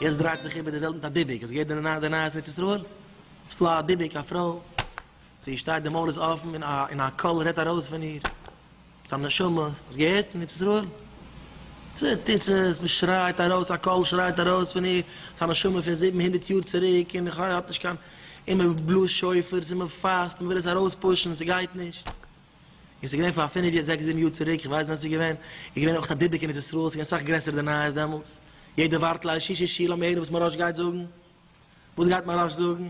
יעצט דרייט זיך איבער די וועלט מיט א דיבוק, האסט געהערט די נייעס אין ארץ ישראל? ס'דא א דיבוק א פרוי. זי שטייט די מויל איז אפן און א קול רעדט ארויס פון איר צו א נשמה האסט געהערט פון ארץ ישראל צו טיצעס וואס שרייט ארויס א קול שרייט ארויס פון איר צו א נשמה פון זיבן הונדערט יאר צוריק און חו האט נישט קיין און מען בלאזט שופרס און מען פאסט און מען וויל עס ארויס פושן און ס'גייט נישט און ס'איז געווען פאר פינף יער זעקס זיבן יאר צוריק איך ווייס ווען ס'איז געווען איז געווען אויך א דיבוק אין ארץ ישראל ס'איז געווען סאך גרעסער די נייעס דעמאלטס יעדער ווארט ליל שישי שישי לאמיר הערן וואס מוהראש גייט זאגן וואס גייט מוהראש זאגן.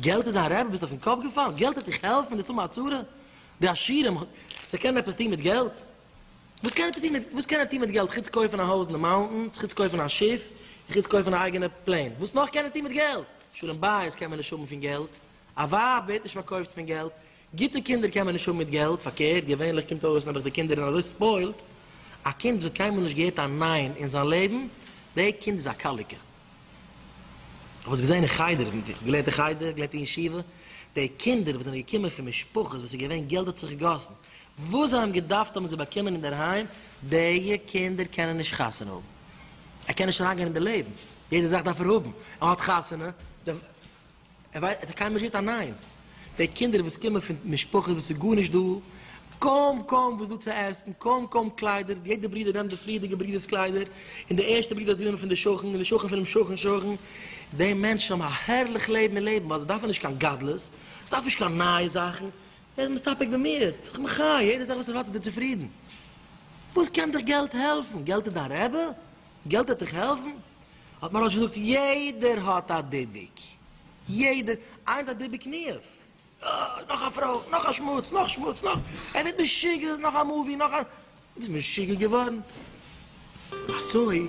געלט איז דיין רעבע? ביסט אויפן קאפ געפאלן? געלט העט דיך העלפן נישט האבן א צרה? די עשירים זיי קענען עפעס טון מיט געלט? וואס קען ער טון מיט וואס קען ער טון מיט געלט חוץ קויפן א הויז אין די מאונטענס חוץ קויפן א שיף און חוץ קויפן א אייגענע פלעין וואס נאך קען ער טון מיט געלט? שלום בית קען מען נישט האבן פון געלט א ווייב ווערט נישט פארקויפט פון געלט גוטע קינדער קען מען נישט האבן מיט געלט פארקערט געווענליך קומט אויס נעבעך די קינדער זענען אזוי ספוילט א קינד וואס האט קיינמאל נישט געהערט א ניין אין זיין לעבן דעי קינד איז א קאליקע. כ'האב עס געזען אין חדר, איך האב געלערנט אין חדר, איך געלערנט אין ישיבה, די קינדער וואס זענען געקומען פון משפחות וואס איז געווען געלט האט זיך געגאסן, וואס זיי האבן געדארפט האבן זיי באקומען אינדערהיים, דיע קינדער קענען נישט חתונה האבן, ער קען נישט אריינגיין אין די לעבן, יעדע זאך דארף ער האבן, ער האט חתונה, די. ער ווייסט, ער האט קיינמאל נישט געהערט א ניין. די קינדער וואס קומען פון משפחות וואס איז גארנישט דא, קוים קוים וואס דא צו עסן, קוים קוים קליידער, יעדער ברודער נעמט די פריערדיגע ברודער'ס קליידער, און די ערשטע ברודער האט זיך גענומען פון די שכן, און די שכן פונעם שכן שכן, די מענטשן האבן א הערליך לעבן און לעבן ווייל זיי דארפן נישט קיין גדלות, דארפן נישט קיין נייע זאכן, ער איז מסתפק במיעוט, זיך מחיה, יעדע זאך וואס ער האט איז ער צופרידן. וואס קען דיך געלט העלפן? געלט איז דיין רעבע? געלט העט דיך העלפן? האט מוהראש געזאגט, יעדער האט א דיבוק, יעדער, איינער האט א דיבוק ניאוף, אה, נאך א פרוי, נאך א שמוץ, נאך שמוץ, נאך, ער ווערט משוגע, נאך א מאווי, נאך א, דו ביסט משוגע געווארן? אזוי.